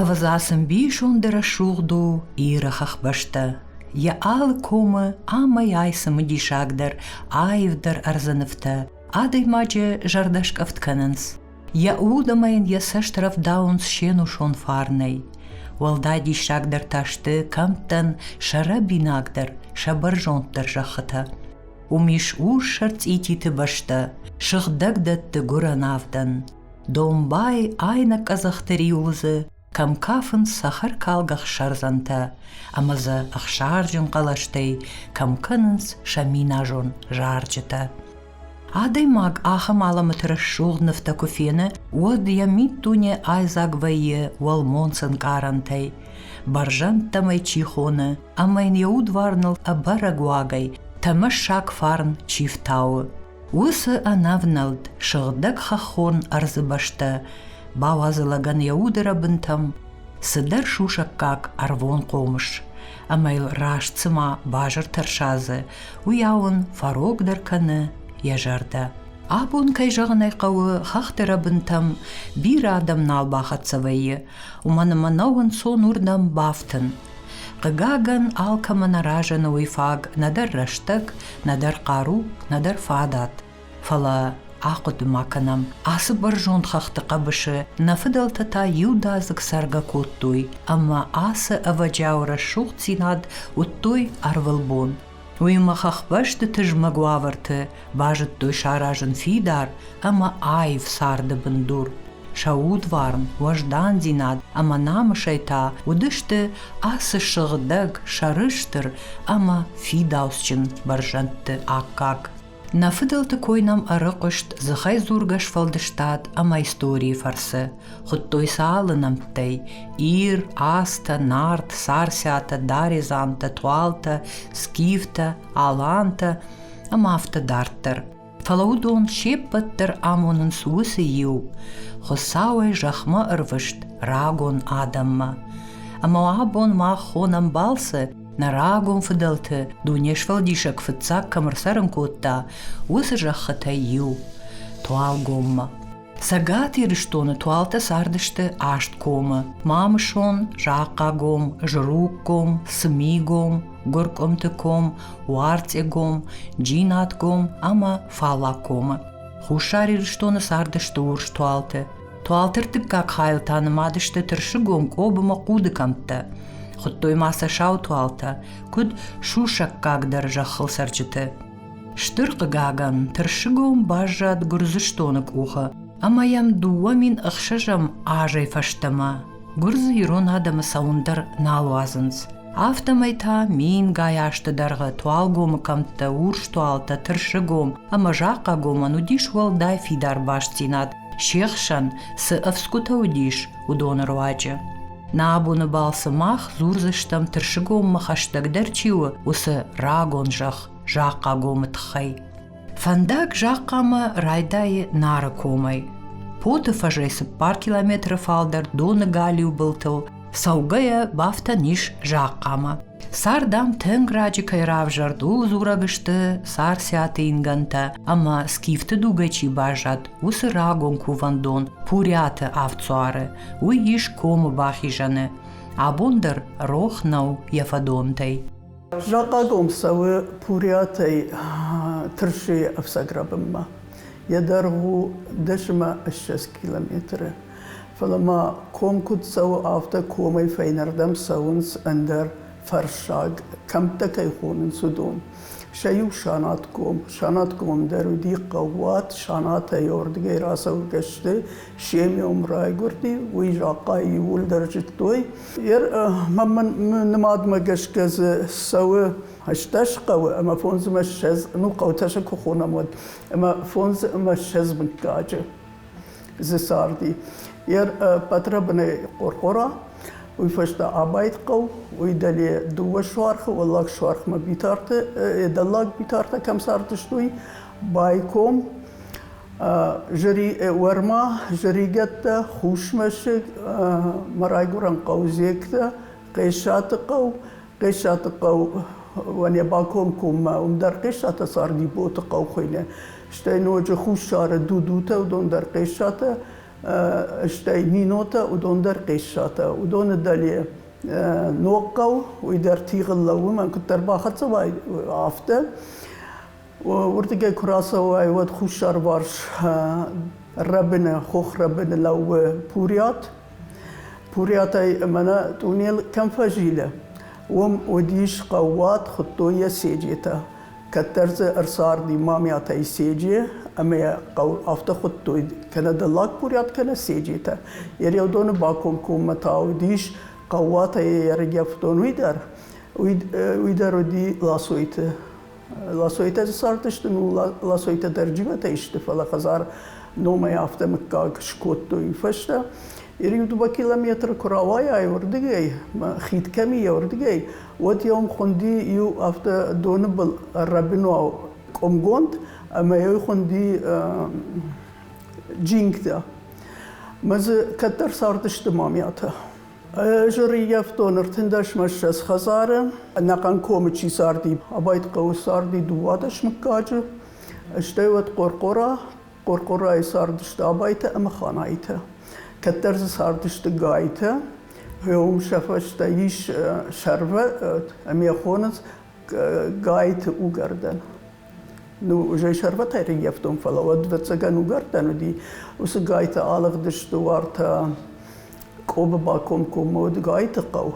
Ӕвзасын бисонды рӕсугъд у Иры хӕхбӕстӕ. Йӕ алы комы амӕй ай цымыдисагдӕр, аивдӕр ӕрдзынывтӕ Адӕймаджы зӕрдӕскъӕфт кӕнынц. Йӕ уд ӕмӕ йын йӕ цӕст рӕвдауынц се нусон фарнӕй. Уӕлдай диссагдӕр та сты кӕмттӕн сӕ рӕбинагдӕр, сӕ бӕрзонддӕр зӕххытӕ. Уым ис урссӕр цъититы бӕстӕ, сыгъдӕг дӕтты гуырӕн авдӕн. Домбай айнӕ къӕдзӕхты риуылдзы кӕм кафынц цӕхӕркалгӕ ӕхсӕрдзӕнтӕ ӕмӕ дзы ӕхсарджын хъӕлӕстӕй кӕм кӕнынц сӕ миназон зарджытӕ. Адӕймаг ахӕм алӕмӕты рӕсугъд нывтӕ куы фены, уӕд йӕ миддуне айдзаг вӕййы уӕлмонц ӕнкъарӕнтӕй, бӕрзӕндтӕм ӕй чи хоны, ӕмӕ йын йӕ удварныл ӕбӕрӕг уагӕй тӕмӕссаг фарн чи фтауы. Уыцы ӕнӕвнӕлд сыгъдӕг хӕххон ӕрдзы бӕстӕ бауадзы лӕгӕн йӕ удырӕбынтӕм цыдӕр сусӕггаг ӕрвон хъомыс, ӕмӕ йыл раст цыма базыр тӕрсадзы, уыйау ын фӕрогдӕр кӕны йӕ зӕрдӕ. Абон, кӕй зӕгъын ӕй хъӕуы, хӕхты рӕбынтӕм бирӕ адӕм нал бахӕццӕ вӕййы, уымӕн ӕмӕ нӕ уынцон уырдӕм бафтын, Хъыгагӕн, алкӕмӕн аразӕны уый фаг нӕдӕр рӕстӕг, нӕдӕр хъару, нӕдӕр фадат. Фӕлӕ ахъуыды ма кӕнӕм, ацы бӕрзонд хӕхты хъӕбысы нӕ фыдӕлтӕ та иудадзыг цӕргӕ кодтой, ӕмӕ ацы ӕвӕджиау рӕсугъддзинад уыдтой ӕрвылбон. Уыимӕ хӕхбӕсты тызмӕг уавӕрты базыдтой саразын фидар ӕмӕ аив царды бындур. Сӕ удварн, уӕздандзинад ӕмӕ намысӕй та уыдысты ацы сыгъдӕг, сӕрыстыр ӕмӕ фидауцджын бӕрзӕндты аккаг. Нӕ фыдӕлты кой нӕм ӕрыхъуыст дзыхӕйдзургӕ сфӕлдыстад ӕмӕ историйы фӕрцы. Хуыдтой сӕ алы нӕмттӕй – Ир, Астӕ, Нарт, Сарсӕтӕ, Даредзантӕ, Туалтӕ, Скифтӕ, Алантӕ ӕмӕ афтӕ дарддӕр. Фӕлӕ уыдон се ппӕт дӕр амонынц уыцы иу – Хуыцауӕй зӕхмӕ ӕрвыст рагон адӕммӕ. Ӕмӕ абон мах хонӕм балцы нӕ рагон фыдӕлты дуне сфӕлдисӕг фыццаг кӕм ӕрцӕрын кодта, уыцы зӕххытӕй иу – Туалгоммӕ. Цӕгат Ирыстоны туалтӕ цардысты Асткомы, Мамысон, Захъхъагом, Жруггом, Цымигом, Гуыркъуымтыком, Уарцъегом, Джинатком ӕмӕ Фалакомы. Хуссар Ирыстоны цардысты урс туалты. Туалтыртыккаг хайыл та нымадысты тырсыгон къобымӕ хъуды кӕмттӕ. Хуыдтой ма сӕ сау туалтӕ, куыд сусӕггагдӕр зӕххыл цӕрджыты. Стыр хъыгагӕн, тырсыгон баззад Гуырдзыстоны къухы ӕмӕ йӕм дыууӕ мин ӕхсӕзӕм азӕй фӕстӕмӕ гуырдзы ирон адӕмы цӕуын дӕр нал уадзынц. афтӕмӕй та мингай азты дӕргъы туалгомы кӕмттӕ урстуалтӕ тырсыгом ӕмӕ захъхъагомӕн уыдис уӕлдай фидар бастдзинад се хсӕн цы ӕфцгуытӕ уыдис уыдоны руаджы нӕ абоны балцы мах дзурдзыстӕм тырсыгоммӕ хӕстӕгдӕр чи у уыцы рагон зӕхх захъхъагомы тыххӕй Фӕндаг Захъхъамӕ райдайы Нары комӕй. Поты фӕзӕй цыппар километры фалдӕр доны галиу былтыл цӕугӕйӕ бафтӕн ис Захъхъамӕ. Сар, дам, тынг раджы кӕй равзӕрд, ууыл дзурӕг сты сарсиаты ингӕнтӕ ӕмӕ скифты дугӕй чи баззад, уыцы рагон кувӕндон Пурӕты авдсуары. Уый ис комы бахизӕны. Абон дӕр рох нӕу йӕ фӕдонтӕй. Закъагом цӕуы Пуриатӕй Тырсыйы ӕфцӕг рӕбынмӕ. Йӕ дӕргъ у дӕсмӕ ссӕдз километры. Фӕлӕ ма ком куыд цӕуы, афтӕ комӕй фӕйнӕрдӕм цӕуынц ӕндӕр фӕрсаг, кӕмттӕ кӕй хонынц, уыдон. Сӕ иу санатком. Санаткомом дӕр уыди хъӕууат, санатӕй рдыгӕй рацӕугӕ сты, семьям райгуырди, уый закъайы иууылдӕр зыдтой, Йе нымадмӕ гӕсгӕ дзы цӕуы ӕстдӕс хъӕуы ӕмӕ фондз ӕмӕ ссӕдз, ну хъӕутӕ сӕ куы хонӕм, уӕд, ӕмӕ фондз ӕмӕ ссӕдз мыггаджы дзы царди. Йе патрабынӕй Хъорхъора, уый фӕстӕ Абайт хъӕу, уый дӕле дыууӕ суархы, Уӕллаг суархмӕ Битарты, дӕллаг Битартӕ кӕм цардысты, уый, Байком уӕрма зӕригӕттӕ, хусмӕсыг, мӕ райгурӕн хъӕу Зектӕ, Хъесаты хъӕу, Хъесаты хъӕуӕн Баком коммӕ, уым дӕр Хъесаты царди боты хъӕу хуыйны. Стӕй ноджы хуссары Дудутӕ, уыдон дӕр Хъесатӕ, стӕй Минотӕ, уыдон дӕр Хъесатӕ. Уыдоны дӕле ног хъӕу, уый дӕр тигъыл лӕууы, мӕн куыддӕр бахӕццӕ уай, афтӕ. уырдыгӕй куы рацӕуай, уӕд хуссарварс рӕбыны, хох рӕбыны лӕууы Пурят. Пурятӕй мӕнӕ тунел кӕм фӕзилы, уым уыдис хъӕууат, хуыдтой йӕ Седжетӕ. Кӕддӕр дзы ӕрцарди Мамиатӕй Седже, ӕмӕ йӕ хъӕу афтӕ хуыдтой, кӕнӕ Дыллаг Пурят, кӕнӕ Седжетӕ. Йӕ рӕудоны бакомкоммӕ та уыдис хъӕууатӕй йӕ ӕргӕвдон уый дӕр, уый дӕр уыди Ласойты Ласойтӕ цардысты, ну, ласойтӕ дӕр джиботӕй сты, фӕлӕ хӕдзар номӕй афтӕ мыггаг скодтой фӕстӕ. Ириудуба километры куы рауайай уырдыгӕй, хид кӕм и уырдыгӕй, уӕд йӕм хуынди иу афтӕ доны был ӕррӕбинау къуымгонд ӕмӕ йӕ хуынди джингтӕ. Мӕ дзы кӕддӕр цардысты мамӕтӕ. Ӕз ӕрыййӕфтон ӕртындӕсмӕ ссӕдз хӕдзары. Ӕнӕхъӕн комы чи царди, абайт хъӕуы царди дыууадӕс мыггаджы, стӕй уӕд Хъорхъора. Хъорхъорайы цардысты Абайтӕ ӕмӕ Ханайтӕ. Кӕддӕр дзы цардысты Гайтӕ. Уым сӕ фӕстӕ ис сӕрвӕ, ӕмӕ йӕ хоныц Гайты угӕрдӕн. Ну, зӕй сӕрбатӕй рингӕфтон, фӕлӕ уӕд вӕццӕгӕн угӕрдтӕн уыди, уыцы гайты алыгъдысты уартӕ Къобы бакомкоммӕ уыд гайты хъӕу.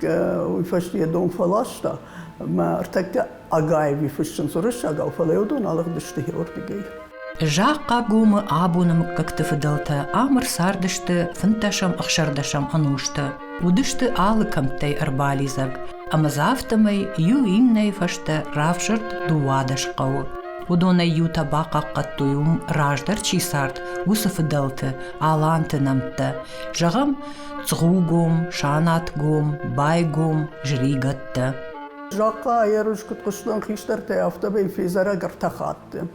Уый фӕстӕ йӕ дон фӕласта, мӕ ӕртӕккӕ Агаеви фыссынц уырыссагау, фӕлӕ йӕ уыдон алыгъдысты Георгигӕй. Захъхъагомы абоны мыггӕгты фыдӕлтӕ ӕмыр цардысты фынддӕсӕм ӕхсӕрдӕсӕм ӕнусты. Уыдысты алы кӕмттӕй ӕрбалидзӕг, ӕмӕ дзы афтӕмӕй иу иннӕйы фӕстӕ равзӕрд дыууадӕс хъӕуы. Уыдонӕй иутӕ бахъахъхъӕдтой уым, раздӕр чи цард, уыцы фыдӕлты, аланты нӕмттӕ. Зӕгъӕм, Цгъугом, Санатгом, Байгом, зыригӕттӕ. Захъхъа аерыс куыд хъуыстон хистӕртӕй, афтӕмӕй фезӕрӕг ӕртӕ хатты.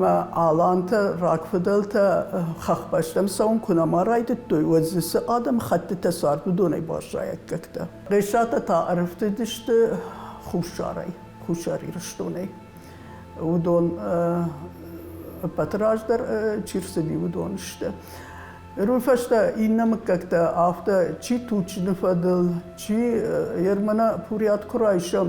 мӕ алантӕ, рагфыдӕлтӕ хӕхбӕстӕм цӕуын куы нӕма райдыдтой, уӕд дзы цы адӕм хӕттытӕ цард, уыдонӕй баззайӕггӕгтӕ. Грӕсатӕ та ӕрӕфтыдысты хуссарӕй, Хуссар Ирыстонӕй. Уыдон ӕппӕт раздӕр чи рцыди, уыдон сты. Уый фӕстӕ иннӕ мыггӕгтӕ афтӕ, чи Тучины фӕдыл, чи Ермана Пурят куы райсӕм,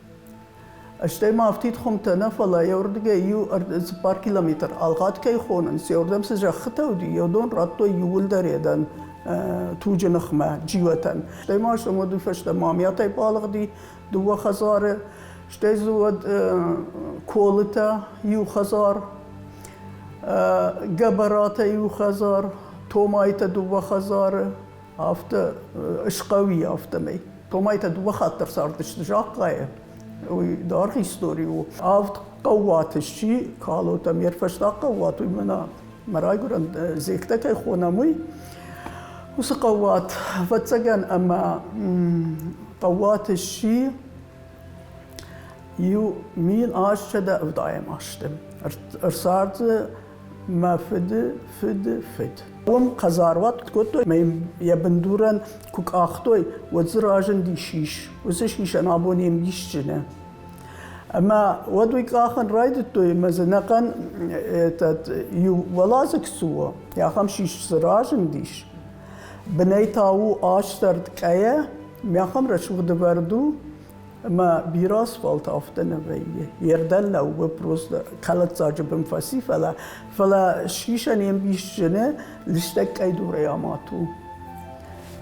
Стӕй ма афтид хуымтӕ нӕ, фӕлӕ йӕ уырдыгӕй иу цыппар километр ӕлгъӕд кӕй хонынц, йӕрдӕм цы зӕххытӕ уыди, йӕ дон радтой иууылдӕр йӕ дӕн туджы ныхмӕ, джиотӕн. Стӕй ма стӕм уӕды фӕстӕ мамиатӕй балыгъди дыууӕ хӕдзары, стӕй дзы уӕд колытӕ иу хӕдзар, гӕбӕратӕ иу хӕдзар, томайтӕ дыууӕ хӕдзары, афтӕ схъауи, афтӕмӕй. Томай та дыууӕ хатт дӕр цардысты Захъхъайы. Уый дӕргъ истори у. Авд хъӕууаты сси калот ӕмӕ фӕстаг хъӕууат уый мӕнӕ мӕ райгуырӕн зектӕ кӕй хонӕм, уый. Уыцы хъӕууат ӕвӕццӕгӕн ӕмӕ хъӕууат сси иу мин азсӕдӕ ӕвдайӕм азты. Ӕрцард дзы мӕ фыды фыды фыд. Уым хъазаруат кодтой мӕ йӕ бындурӕн куы къахтой, уӕд дзы разынди сис. Уыцы сисӕн абон йе мисджыны. Ӕмӕ уӕд уый къахын райдыдтой ӕмӕ дзынӕхъӕн этот иу уӕладзыг цы у, ахӕм сис дзы разындис. Бынӕй та у астӕрд къӕйӕ, мӕхӕм рӕсугъд вӕрд у, Ӕмӕ бирӕ асфальт афтӕ нӕ вӕййы. Йе рдӕн лӕууы просто кӕлӕддзаджы бын фӕци, фӕлӕ фӕлӕ сисӕн йе мбис зыны, лыстӕг къӕйдурӕй амад у.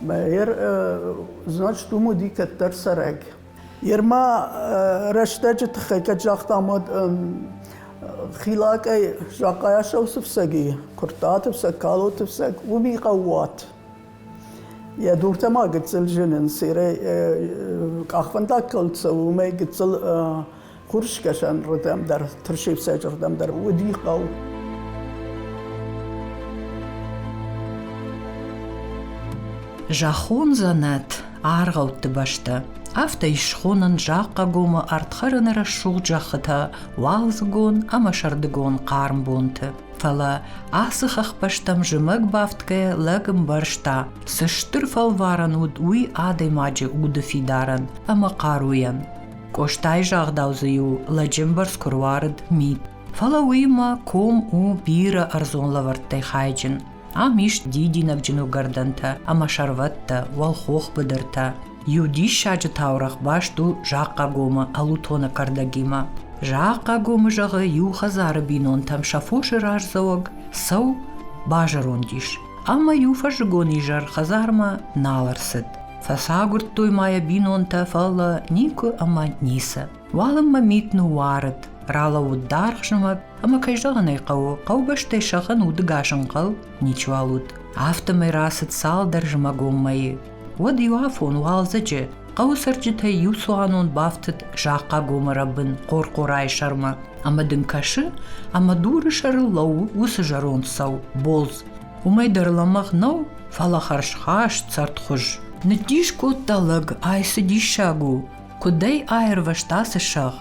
Мӕ йер, значит, уым уыди кӕддӕр цӕрӕг. Йер ма рӕстӕджы тыххӕй кӕд загътам, уӕд Хилакъӕй Захъайасау цы фцӕг и, Куырттаты фцӕг, Калоты фцӕг, уыми хъӕууат. Йӕ дуртӕ ма гыццыл зынынц, къахвӕндаг кӕл цӕуы, уымӕй гыццыл хурыскӕсӕнрдӕм дӕр, тырсыфцӕджырдӕм дӕр уыди хъӕу. Зӕххон дзӕнӕт, аргъӕутты бӕстӕ. Афтӕ ис схонӕн Захъхъагомы ардхӕрыны рӕсугъд зӕххытӕ, уалдзыгон ӕмӕ сӕрдыгон хъарм бонты. Фӕлӕ ацы хӕхбӕстӕм зымӕг бафтгӕйӕ лӕг ӕмбӕрста, цы стыр фӕлварӕн уыд уый адӕймаджы уды фидарӕн ӕмӕ хъаруйӕн. Къостайы загъдау дзы-иу лӕджы ӕмбӕрц куы руарыд мит. Фӕлӕ уыимӕ ком у бирӕ ӕрдзон лӕвӕрттӕй хайджын. Ам ис дидинӕгджын уыгӕрдӕнтӕ ӕмӕ сӕрвӕттӕ, уӕлхох быдыртӕ. Иу диссаджы таурӕгъ баст у Захъхъагомы Алутоны кӕрдӕгимӕ. Захъхъагомы зӕгъы, иу хӕдзары бинонтӕм сӕ фосы раздзӕуӕг цӕу базӕронд ис. Ӕмӕ иу фӕззыгон изӕр хӕдзармӕ нал ӕрцыд. Фӕцагуырдтой ма йӕ бинонтӕ, фӕлӕ никуы ӕмӕ ницы. Уалынмӕ мит ныууарыд, ралӕууыд даргъ зымӕг, ӕмӕ кӕй зӕгъын ӕй хъӕуы, хъӕубӕстӕй сӕгъын удыгас ӕнхъӕл ничуал уыд. Афтӕмӕй рацыд цалдӕр зымӕгон мӕйы. уӕд иуафон уалдзӕджы хъӕуы цӕрджытӕй иу цуанон бафтыд Захъхъагомы рӕбын Хъорхъорайы сӕрмӕ ӕмӕ дын кӕсы, ӕмӕ дуры сӕрыл лӕууы уыцы зӕронд сау болдз. Уымӕй дӕр лӕмӕгъ нӕу, фӕлӕ хӕрзхаст цӕрдхуыз. Ныддис кодта лӕг, ай цы диссаг у! Куыдӕй аирвӕзта цы сӕгъ?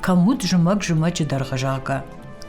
Кӕм уыд зымӕг-зымӕджы дӕргъызагӕ?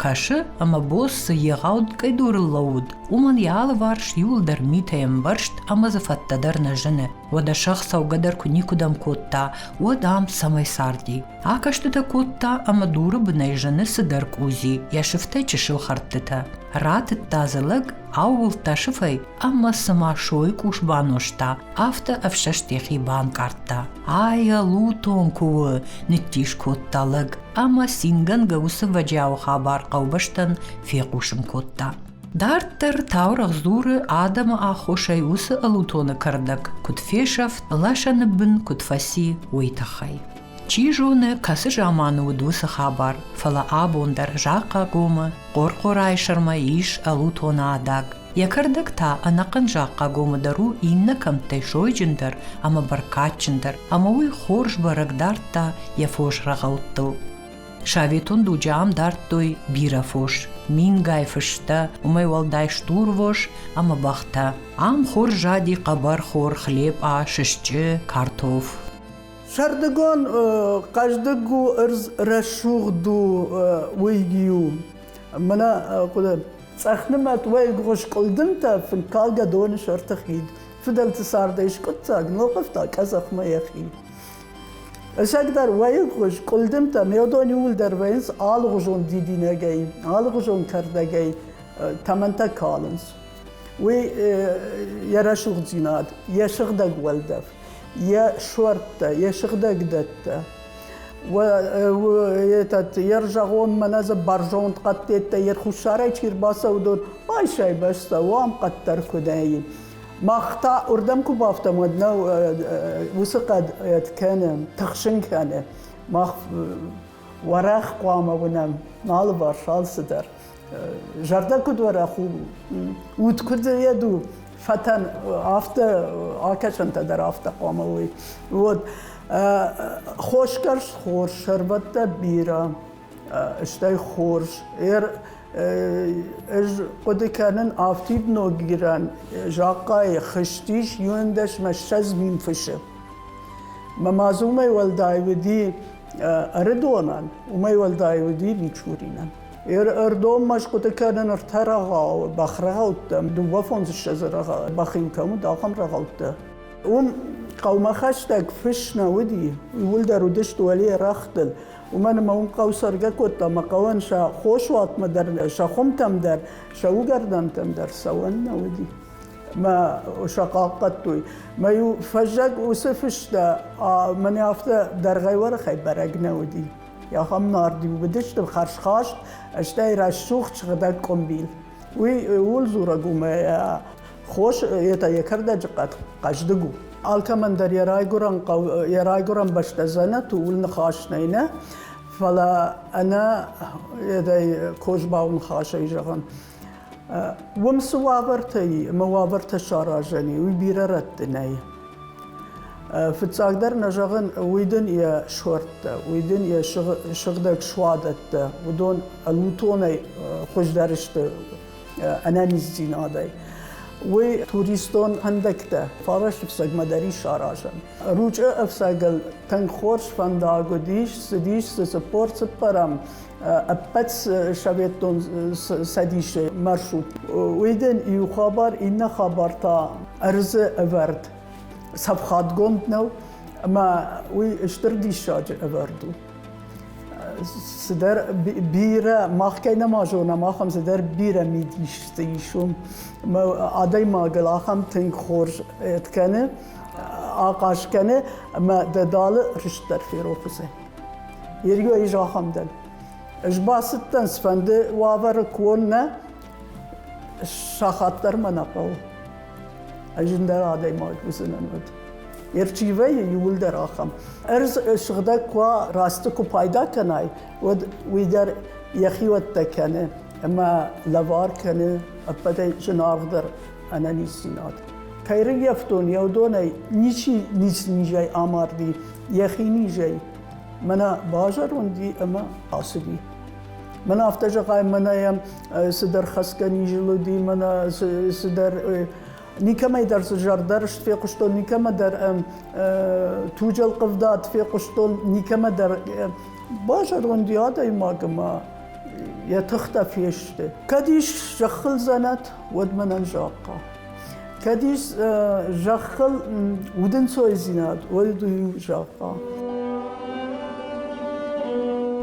Кӕсы, ӕмӕ бос цы егъау къӕйдурыл лӕууыд, уымӕн йӕ алыварс иуылдӕр митӕй ӕмбӕрзт ӕмӕ дзы фӕттӕ дӕр нӕ зыны. Уӕдӕ сӕгъ цӕугӕ дӕр куы никуыдӕм кодта, уӕд ам цӕмӕй царди? Акӕстытӕ кодта ӕмӕ дуры бынӕй зыны цыдӕр къудзи, йӕ сыфтӕй чысыл хӕрдтытӕ. Ратыдта дзы лӕг, аууылдта сыфӕй ӕмӕ цыма сойы къус банозта, Афтӕ ӕфсӕст йӕхи банкъардта. Айя лутон куы у, ныддис кодта лӕг ӕмӕ цингӕнгӕ уыцы вӕджиауы хабар хъӕубӕстӕн фехъусын кодта. Дарддӕр таурӕгъ дзуры адӕмы аххосӕй уыцы ӕлутоны кӕрдӕг куыд фесӕфт, лӕсӕны бын куыд фӕци, уый тыххӕй. Чи зоны, кӕцы заманы уыд уыцы хабар, фӕлӕ абон дӕр Захъхъагомы Хъорхъорайы сӕрмӕ ис ӕлутон адаг. Йӕ кӕрдӕг та ӕнӕхъӕн Захъхъагомы дӕр у иннӕ кӕмттӕй сойджындӕр ӕмӕ бӕркадджындӕр, ӕмӕ уый хорз бӕрӕг дардта йӕ фос рӕгъӕуттыл. Советон дуджы ам дардтой бирӕ фос – мингай фыстӕ, уымӕй уӕлдай стурвос ӕмӕ бӕхтӕ. Ам хорз зади хъӕбӕрхор, хлеб, а, сысчъы, картоф. Сӕрдыгон хъӕздыг у, ӕрдз рӕсугъд у уыйг-иу. Мӕнӕ хъуыды, цъӕхнымӕт уӕйгуы скъуыдынтӕ фынкалгӕ доны сӕрты хид. Фыдӕлты цардӕй скъуыддзаг, ногъывта къӕдзӕхмӕ йӕхи. Ӕшӕгдӕр уӕйгуы скъуылдымтӕ меёдон иууылдӕр вӕййынц алыгъуызон дидинӕгӕй, алыгъуызон кӕрдӕгӕй тӕмӕнтӕ калынц. Уый йӕ рӕсугъддзинад, йӕ сыгъдӕг уӕлдӕф. йӕ суӕрттӕ, йӕ сыгъдӕгдӕттӕ. этот ержагонмӕ нӕ дзы бӕрзонд хъӕддӕттӕ йе хуссарӕй чи рбацӕудод, байсӕй-бӕстӕ уам хъӕддӕр куы нӕй. Мах та уырдӕм куы бафтам, уӕд нӕ уыцы хъӕд кӕны, тыхсын кӕны. Мах уӕрӕх хъуамӕ уынӕм алыварс алцыдӕр. зӕрдӕ куд уӕрӕх у, уд куд зайӕд у, фӕтӕн афтӕ, акӕсӕнтӕ дӕр афтӕ хъуамӕ уой. Уод хосгӕрст хорз, сӕрбӕттӕ бирӕ, стӕй хорз. Ӕз хъуыды кӕнын, афтид Ногирӕн закъайы хызтис иуӕндӕс мӕ ссӕдз мин фысы. Мӕ мадз уымӕй уӕлдай уыди Ӕрыдонӕн, уымӕй уӕлдай уыди Мичуринӕн. Ӕрдон мӕсгуыты кӕнын ӕртӕ рӕгъауы, бӕхрӕгъӕуттӕм, дыууӕфондзыссӕдзы рӕгъау, бӕхин кӕм уыд, ахӕм рӕгъӕуттӕ. Уым хъӕумӕ хӕстӕг фыс нӕ уыди, ууылдӕр уыдысты уӕле рӕгътыл. Уымӕн ӕмӕ уым хъӕу цӕргӕ кодта, ӕмӕ хъӕуӕн сӕ хосуатмӕ дӕр, сӕ хуымтӕм дӕр, сӕ уыгӕрдӕнтӕм дӕр цӕуӕн нӕ уыди. Мӕ сӕ хъахъхъӕдтой. Мӕ-иу фӕззӕг уыцы фыстӕ мӕнӕ афтӕ дӕргъӕй уӕрӕхӕй бӕрӕг нӕ уыди. ахӕм нард уыдысты хӕрзхаст, стӕй рӕсугъд сыгъдӕг къуымбил. Уый ууыл дзурӕг у мӕ хос это йӕ кӕрдӕджы хъӕздыг у. Алкӕмӕн дӕр йӕ райгуырӕн хъӕу, йӕ райгуырӕн бӕстӕ дзӕнӕт у, ууыл ныхас нӕй нӕ, фӕлӕ ӕнӕ йедӕй козбауы ныхасӕй зӕгъын. Уым цы уавӕртӕ и ӕмӕ уавӕртӕ саразӕн и, уый бирӕ рӕтты нӕй. Фыццагдӕр нӕ зӕгъын, уый дын йӕ суӕрттӕ, уый дын йӕ сыгъдӕг суадӕттӕ, уыдон ӕнутонӕй хуыздӕр сты ӕнӕниздзинадӕй. Уый туристон фӕндӕгтӕ фарӕсты ӕфцӕгмӕ дӕр ис аразӕн. Ручъы ӕфцӕгыл тынг хорз фӕндаг уыдис, цыдис, цы цыппор цыппӕрӕм ӕппӕт Советон Цӕдисы маршрут. Уйден иу хабар, иннӕ хабар та ӕрдзы ӕвӕрд цӕфхадгонд нӕу, ӕмӕ уый стыр диссаджы ӕвӕрд у. Цыдӕр бирӕ, мах кӕй нӕма зонам, ахӕм цыдӕр бирӕ мидис дзы ис уым. Адӕймагыл ахӕм тынг хорз ӕд кӕны, ахъаз кӕны, ӕмӕ дӕ далы рыст дӕр ферох уыдзӕн. Иргӕ ис ахӕм дӕн. Ӕз бацыдтӕн, цыфӕнды уавӕры куы уон нӕ, сахат дӕр мӕ нӕ хъӕуы. Ӕз ӕндӕр адӕймаг уыдзынӕн уӕд. Ерчивӕйы иуылдӕр ахӕм. Ӕрдз сыгъдӕг куы уа, рӕсты куы пайда кӕнай, уӕд уый дӕр йӕхиуӕттӕ кӕны ӕмӕ лӕвар кӕны ӕппӕтӕй зынаргъдӕр ӕнӕниздзинад. Кӕй рыййӕфтон, йӕ уыдонӕй ничи ницы низӕй амарди, Йӕхинизӕй мӕнӕ базӕронди ӕмӕ ацыди. Мӕнӕ афтӕ зӕгъай, мӕнӕ йӕм цыдӕр хӕцгӕ низыл уыди, мӕнӕ цыдӕр никӕмӕй дӕр цы зӕрдӕрыст фехъуыстон, никӕмӕ дӕр туджӕл хъывдад фехъуыстон, никӕмӕ дӕр базӕронди адӕймаг ӕмӕ йӕ тыхтӕ фесты. Кӕд ис зӕххыл дзӕнӕт, уӕд мӕнӕн захъхъа. Кӕдис зӕххыл удӕнцойдзинад, уой ду зӕгъа.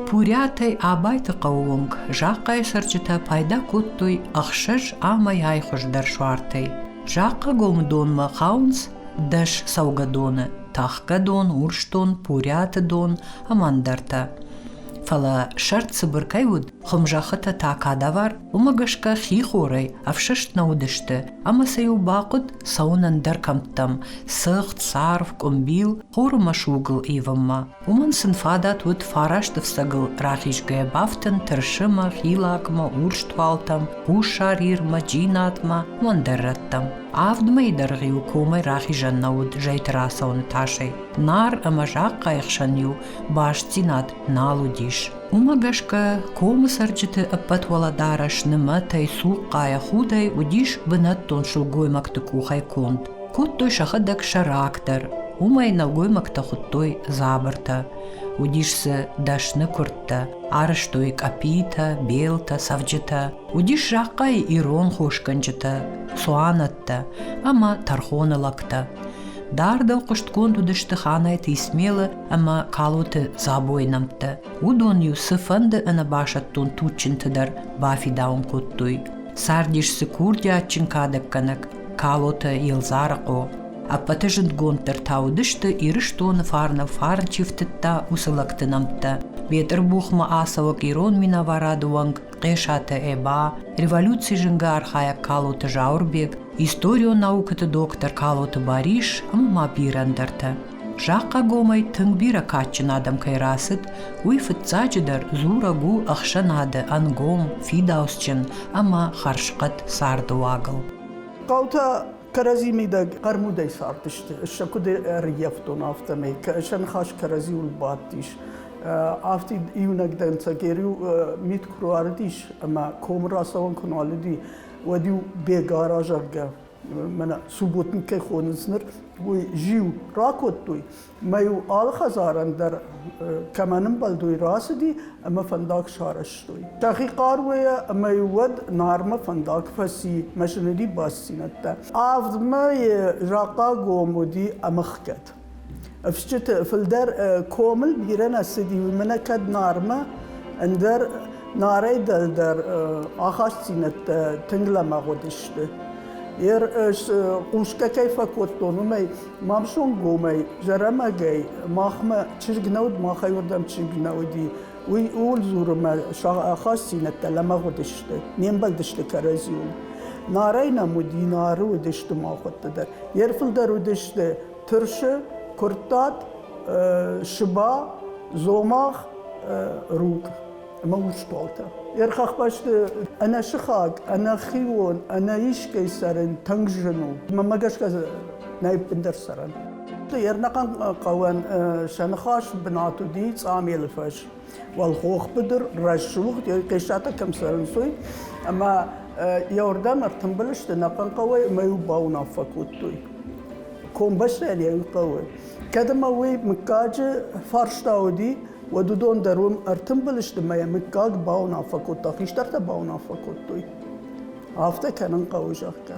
Пурӕтӕй Абайты хъӕууонг закъайы цӕрджытӕ пайда кодтой ӕхсӕз амӕйай хуыздӕр суартӕй. Закъагомы донмӕ хауынц дӕс цӕугӕдоны – Тахгӕдон, Урсдон, Пурӕты дон ӕмӕ ӕндӕртӕ. Фӕлӕ сӕрд цыбыр кӕй уыд, Хуымзӕххытӕ та кадавар, уымӕ гӕсгӕ хихорӕй ӕфсӕст нӕ уыдысты, ӕмӕ сӕ-иу бахъуыд цӕуын ӕндӕр кӕмттӕм, сыгъд, царв, къуымбил, хоры мӕсугыл ивынмӕ. Уымӕн сын фадат уыд фарасты фцӕгыл рахизгӕ бафтын тырсымӕ, хилакмӕ, урстуалтӕм, хуссар Ирмӕ, Джинатмӕ, уӕндӕр рӕттӕм. Авдмӕйы дӕргъ-иу комӕй рахизӕн нӕ уыд зӕйты рацӕуыны тасӕй. Нар ӕмӕ захъхъайы хсӕн-иу бастдзинад нал уыдис. Уымӕ гӕсгӕ комы цӕрджыты ӕппӕтуӕлӕдарӕс нымӕтӕй, цухъхъайӕ, худӕй уыдис бынӕттон сылгоймӕгты къухӕй конд. Кодтой сӕхӕдӕг сӕ рактор. Уымӕй нӕлгоймӕгтӕ хуыдтой дзабыртӕ. Уыдис дзы дӕсны куырдтӕ, арӕзтой къӕпитӕ, белтӕ, цӕвджытӕ. Уыдис захъхъайы ирон хосгӕнджытӕ, цуанӕттӕ ӕмӕ тӕрхоны лӕгтӕ. Дардыл хъуыстгонд уыдысты Ханайты Исмелы ӕмӕ Калоты Дзабойы нӕмттӕ. Уыдон-иу цыфӕнды ӕнӕбасӕттон туджджынты дӕр бафидауын кодтой. Цардис дзы курдиатджын кадӕггӕнӕг Калоты Елдзарыхъо. Ӕппӕты зындгонддӕр та уыдысты Ирыстоны фарнӕн фарн чи фтыдта, уыцы лӕгты нӕмттӕ. Бетъырбухмӕ ацӕуӕг ирон минӕварады уӕнг Хъесаты Эба, революци зынгы архайӕг Калоты Зауырбег, историон наукӕты доктор Калоты Барис ӕмӕ ма бирӕ ӕндӕртӕ. Захъхъагомӕй тынг бирӕ кадджын адӕм кӕй рацыд, уый фыццаджыдӕр дзурӕг у ӕхсӕнады ӕнгом, фидауцджын ӕмӕ хӕрзхъӕд царды уагыл. Хъӕутӕ кӕрӕдзи мидӕг хъӕрмудӕй цардысты, сӕ куыд ӕрӕййӕфтон, афтӕмӕй. Сӕ ныхас кӕрӕдзиуыл бадтис. Афтид иунӕг дӕнцӕг-иу мит куы руарыдис ӕмӕ комы рацӕуӕн куы нуал уыди, уӕд-иу Бега разӕгъгӕ мӕнӕ субботник кӕй хонынц ныр, уый зиу ракодтой, мӕ-иу алы хӕдзарӕн дӕр кӕмӕн ӕмбӕлдой рацыди ӕмӕ фӕндаг сарӕзтой. Тӕхи хъаруйӕ ӕмӕ-иу уӕд Нармӕ фӕндаг фӕци, машинӕйы басдзинӕдтӕ. Авдмӕ закъа гом уыди ӕмыхгӕд. Ӕфсджыты фылдӕр комыл бирӕ нӕ цыди, уый мӕнӕ кӕд Нармӕ, ӕндӕр Нарӕй дӕлдӕр ахастдзинӕдтӕ тынг лӕмӕгъ уыдысты. Йе хъусгӕ кӕй фӕкодтон, уымӕй мамсонгомӕй, зӕрӕмӕгӕй махмӕ чызг нӕ уыд, махӕй уырдӕм чызг нӕ уыди. Уый ууыл дзуры, мӕ ахастдзинӕдтӕ лӕмӕгъ уыдысты, не мбӕлдысты кӕрӕдзиуыл. Нарӕй нӕм уыди, Нары уыдысты махуӕтты дӕр. Йе рфылдӕр уыдысты тырсы, куырттат, сыба, дзомагъ, руг ӕмӕ урстуалтӕ. Йе рхӕхбӕсты ӕнӕсыхаг, ӕнӕхион, ӕнӕ искӕй сӕрӕн тынг зын у. Мӕнмӕ гӕсгӕ нӕ ӕппындӕр сӕрӕн. Ернахъан хъӕуӕн сӕ ныхас бынат уыди Цъамелы фӕс. Уӕлхох быдыр, рӕсугъд, хъисатӕ кӕм цӕрынц, уый. Ӕмӕ йӕуырдӕм ӕртымбыл сты нӕхъӕн хъӕуӕй ӕмӕ йыл бауынаффӕ кодтой. Комбӕстӕн йӕ хъӕуы. Кӕд ӕмӕ уый мыггаджы фарста уыди, уӕд уыдон дӕр уым ӕртымбыл сты ӕмӕ йӕ мыггаг бауынаффӕ кодта, хистӕртӕ бауынаффӕ кодтой. Афтӕ кӕнын хъӕуы, зӕгъгӕ.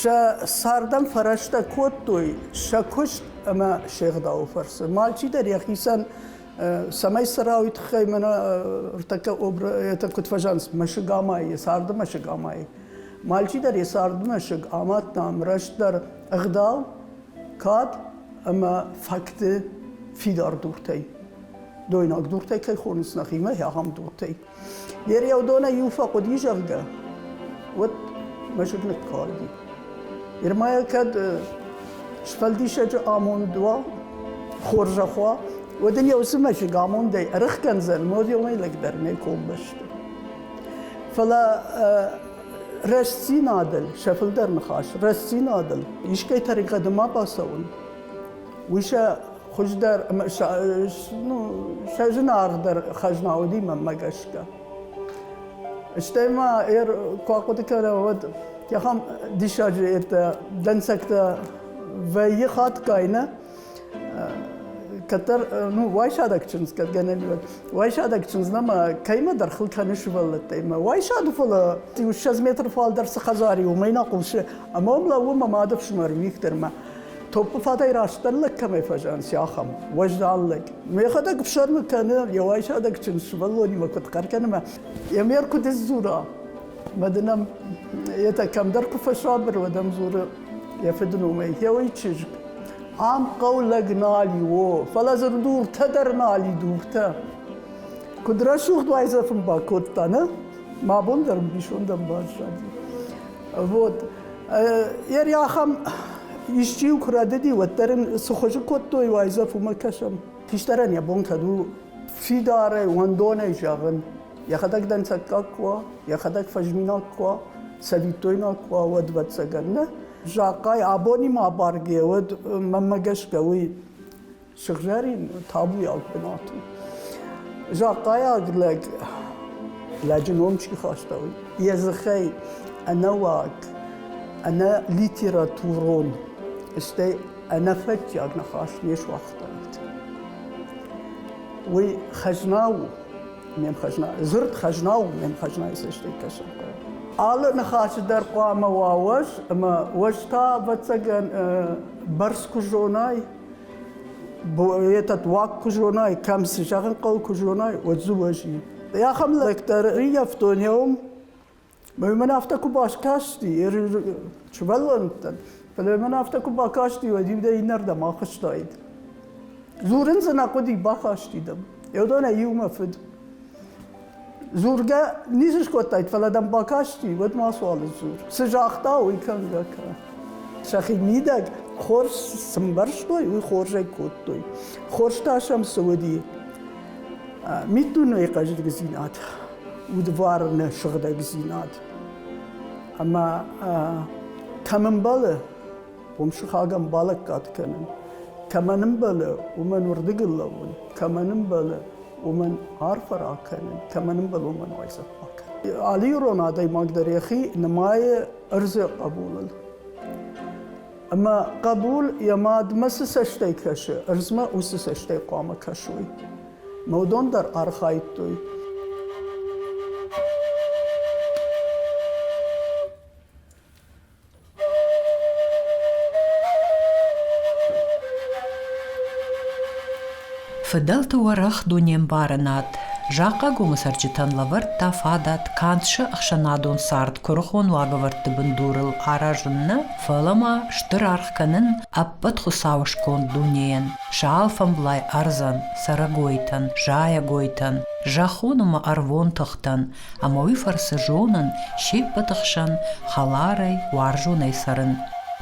Сӕ цардӕн фӕрӕстӕ кодтой сӕ куыст ӕмӕ се гъдауы фӕрцы. Мальчидӕр йӕхицӕн цӕмӕй цӕра, уый тыххӕй мӕнӕ ӕртӕккӕ это куыд фӕзӕнц мӕсыгамайы, царды мӕсыгамайы. Мальчидӕр йӕ царды мӕсыг амадта ӕмрӕстдӕр ӕгъдау, кад ӕмӕ фӕкты фидар дуртӕй. Дойнаг дуртӕй кӕй хонынц нӕхимӕ, ахӕм дуртӕй. Йе рӕвдонӕй иу фӕхъуыди, зӕгъгӕ, уӕд мӕ зынг ныккалди. Германия кӕд сфӕлдисӕджы амонд уа, хорзӕх уа, уӕд ын йӕ уыцы мӕсыг амондӕй ӕрыхгӕндзӕн морӕмӕй лӕгдӕр нӕ комбӕсты. Фӕлӕ рӕстдзинадыл, сӕ фылдӕр ныхас, рӕстдзинадыл искӕй тӕригъӕды ма бацӕуын, Уый сӕ хуыздӕр, сӕ зынаргъдӕр хӕзна уыди мӕнмӕ гӕсгӕ. Стӕй ма куы ахъуыды кӕнӕм, уӕд ахӕм диссаджы ертӕ дӕнцӕгтӕ вӕййы хатгай, нӕ? Кӕддӕр, ну, уайсадӕг чындз, кӕд гӕнӕн уӕд, уайсадӕг чындзмӕ мӕ кӕимӕ дӕр хыл кӕны сывӕллӕттӕй мӕ уайсады фӕлӕ иу ссӕдз метры фалдӕр цы хӕдзар и, уымӕй нӕ хъусы, ӕмӕ уым лӕууы мӕ мады фсымӕр Виктормӕ. Топпы фатӕй растдӕр лӕг кӕмӕй фӕзӕнси, ахӕм. Уӕздан лӕг. Мӕхӕдӕг ӕфсӕрмы кӕны, йӕ уайсадӕг чин сывӕллонимӕ куыд хъӕр кӕнӕмӕ, йӕ мӕр куыд сдзура. Мӕ дын ӕм, етӕ кӕмдӕр куы фӕсабыр, уӕд ӕм дзуры йӕ фыдномӕй, гъеуый чызг. Ам хъӕу лӕг нал и, о, фӕлӕ дзы дуртӕ дӕр нал и, дуртӕ. Куыд рӕсугъд уайдзӕф ын бакодта, нӕ? Мӕ бон дӕр ӕмбисонд ӕмбӕззади. Вот. Йӕ рахам исчи куы рӕдыди, уӕддӕр ын цы хуызы кодтой, уайдзӕф уымӕ кӕсӕм. Хистӕрӕн йӕ бон кӕд у фидарӕй, уӕндонӕй зӕгъын, йӕхӕдӕг дӕнцӕггаг куы уа, йӕхӕдӕг фӕзминаг куы уа, цӕвиттойнаг куы уа, уӕд вӕццӕгӕн, нӕ? Закъай абонимӕ абаргӕ уӕд, мӕнмӕ гӕсгӕ, уый Сыгъзӕрин табуйаг бынат у. Захъайаг лӕг лӕджы ном чи хаста, йӕ дзыхӕй ӕнӕуаг, ӕнӕ литературон, стӕй ӕнӕфӕтчиаг ныхас не суагътаид. Уый хӕзна у, ме хӕзна, дзырд хӕзна у ме хӕзнайы цӕстӕй кӕсын. Алы ныхасы дӕр хъуамӕ уа уӕз, ӕмӕ уӕз та, ӕвӕццӕгӕн, бӕрц куы зонай, этот уаг куы зонай, кӕм цы зӕгъын хъӕуы, куы зонай, уӕд дзы уӕзи. Ахӕм лӕгтӕ рӕййӕфтонӕум, мӕ мын афтӕ куы баскасти, сывӕллӕнттӕн, фӕлӕ мын афтӕ куы бакасти, уӕд иу дӕ иннӕрдӕм ахызтаид. Дзурын дзы нӕ хъуыди, бахасти дӕм. Йӕ уыдонӕй иу мӕ фыд. Дзургӕ ницы скодтаид, фӕлӕ дӕм бакасти, уӕд мацуал сдзур. Цы загъта, уый кӕнгӕ кӕ. Сӕхи мидӕг хорз сӕмбӕрстой, уый хорзӕй кодтой. Хорз та сӕм цы уыди? Миддунейы хъӕздыгдзинад, удварны сыгъдӕгдзинад. Ӕмӕ кӕм ӕмбӕлы уым сыхагӕн балӕггад кӕнын. Кӕмӕн ӕмбӕлы, уымӕн уырдыгыл лӕууын, кӕмӕн ӕмбӕлы, уымӕн арфӕ ракӕнын, кӕмӕн ӕмбӕлы, уымӕн уайдзӕф бакӕнын. Алы ирон адӕймаг дӕр йӕхи нымайы ӕрдзы хъӕбулыл. Ӕмӕ хъӕбул йӕ мадмӕ цы цӕстӕй кӕсы, ӕрдзмӕ уыцы цӕстӕй хъуамӕ кӕсой. Мӕ уыдон дӕр архайдтой. Фыдӕлты уӕрӕх дунембарынад Захъхъагомы цӕрджытӕн лӕвӕрдта фадат кандсы ӕхсӕнадон цард куырыхон уагӕвӕрдты бындурыл аразын нӕ, фӕлӕ ма стыр аргъ кӕнын ӕппӕт Хуыцауы сконд дунейӕн, сӕ алфӕмблай ӕрдзӕн, цӕрӕгойтӕн, зайӕгойтӕн, зӕххон ӕмӕ ӕрвон тыхтӕн, ӕма уи фӕрцы зонын се ппӕты хсӕн хӕларӕй, уарзонӕй цӕрын.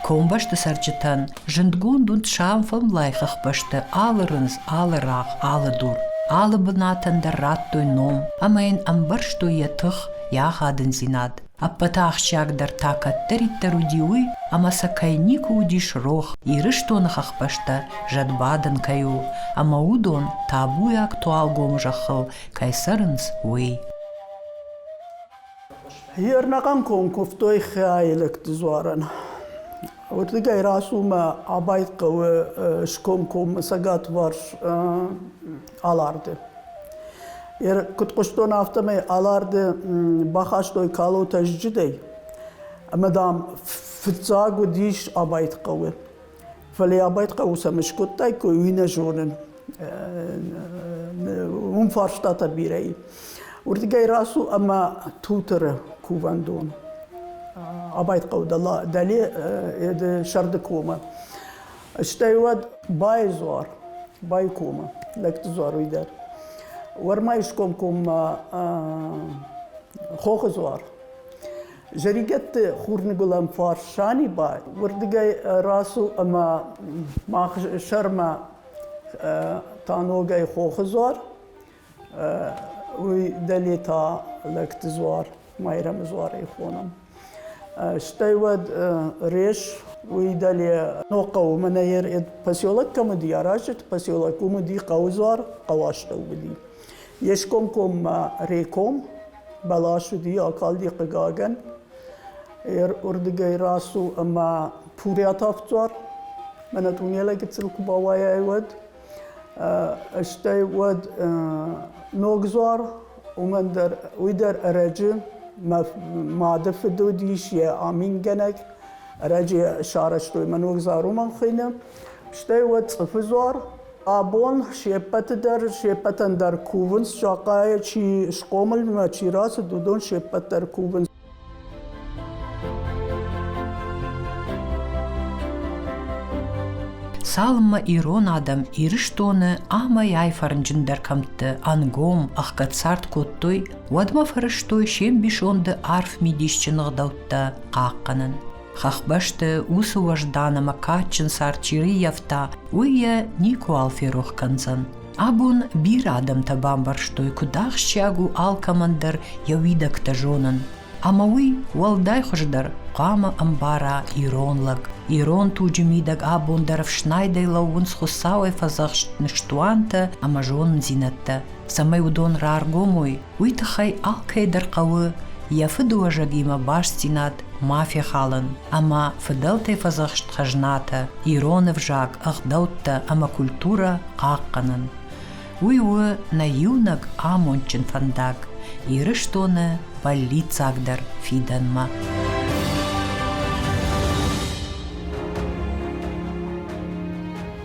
Комбӕсты цӕрджытӕн зындгонд уыд сӕмфӕмлай хӕхбӕсты алы рындз, алы рагъ, алы дур. Алы бынатӕн дӕр радтой ном ӕмӕ йын ӕмбӕрстой йӕ тых, йӕ ахадындзинад. Ӕппӕты ахсджиагдӕр та кӕддӕриддӕр уыди уый, ӕмӕ сӕ кӕй никуы уыдис рох, Ирыстоны хӕхбӕстӕ зӕдбадӕн кӕй у, ӕмӕ уыдон табуйаг туалгом зӕххыл кӕй цӕрынц, уый. Ернӕгӕн ком куывтой хиаилӕгты дзуарӕн. Уырдыгӕй рацумӕ абайт хъӕуы скомкоммӕ цӕгатварс Аларды. Куыд хъуыстон, афтӕмӕй Аларды бахастой калотӕ зджыдӕй. Ӕмӕ дам фыццаг уыдис абайт хъӕуы. Фӕлӕ йӕ байхъӕуы сӕм скодтаиккой, уый нӕ зонын. Уым фарстатӕ бирӕ и. Уырдыгӕй рацу ӕмӕ Туторы кувӕндон. Абайхъӕуы дӕле Сӕрды комы. Стӕй уӕд Байы дзуар, Байы комы, Лӕгты дзуар уый дӕр. Уӕрмӕйы скомкоммӕ Хохы дзуар. Зӕригӕтты хурныгуылӕн фарс Саниба уырдыгӕй рацу ӕмӕ мах сӕрмӕ та ногӕй хохы дзуар, уый дӕле та лӕгты дзуар, Майрӕмы дзуарӕй хонам. Стӕй уӕд реш уый дӕле ног хъӕуы мӕнӕ ер поселок кӕм уыди, аразджыты поселок уым уыди хъӕуы дзуар, хъӕуастӕу уыди. Ескомкоммӕ реком баласуди акалди хъигагӕн, уордигӕй рацу ӕма пурӕтӕфцуар, мӕнӕ тунелӕ гыццыл ку бауайай, уӕд. Стӕй уӕд Ногдзуар, уымӕн дӕр, уый дӕр ӕрӕджы мады фыд уыдис йӕ амингӕнӕг, ӕрӕджы йӕ сарӕзтой мӕ Ногдзар уымӕн хуыйны. Стӕй уӕд Цъыфыдзуар, Абон се ппӕты дӕр, се ппӕтӕн дӕр кувынц, сакъайӕ чи схъомылмӕ чи рацыд, уыдон се ппӕт дӕр кувынц. Цалынмӕ ирон адӕм Ирыстоны амӕй-ай фӕрнджындӕр кӕмтты ӕнгом ӕхгӕдцард кодтой, уӕдмӕ фӕрӕзтой се мбисонды арф мидисджын ӕгъдӕуттӕ хъахъхъӕнын. Хӕхбӕсты уыцы уӕздан ӕмӕ кадджын цард чи рыййӕфта, уый йӕ никуыуал ферох кӕндзӕн. Абон бирӕ адӕмтӕ бамбӕрстой, куыд ахсджиаг у алкӕмӕн дӕр йӕ уидӕгтӕ зонын. Ӕмӕ уый уӕлдай хуыздӕр хъуамӕ ӕмбара ирон лӕг. Ирон туджы мидӕг абон дӕр ӕфснайдӕй лӕууынц Хуыцауӕй фӕдзӕхст ныстуантӕ ӕмӕ зонындзинӕдтӕ. цӕмӕй уыдон раргом уой, уый тыххӕй алкӕй дӕр хъӕуы йӕ фыдыуӕзӕгимӕ бастдзинад ма фехалын ӕмӕ фыдӕлтӕй фӕдзӕхст хӕзнатӕ, ирон ӕвзаг, ӕгъдӕуттӕ ӕмӕ культурӕ хъахъхъӕнын. Уый у нӕ иунӕг амондджын фӕндаг Ирыстоны бӕллиццагдӕр фидӕнмӕ.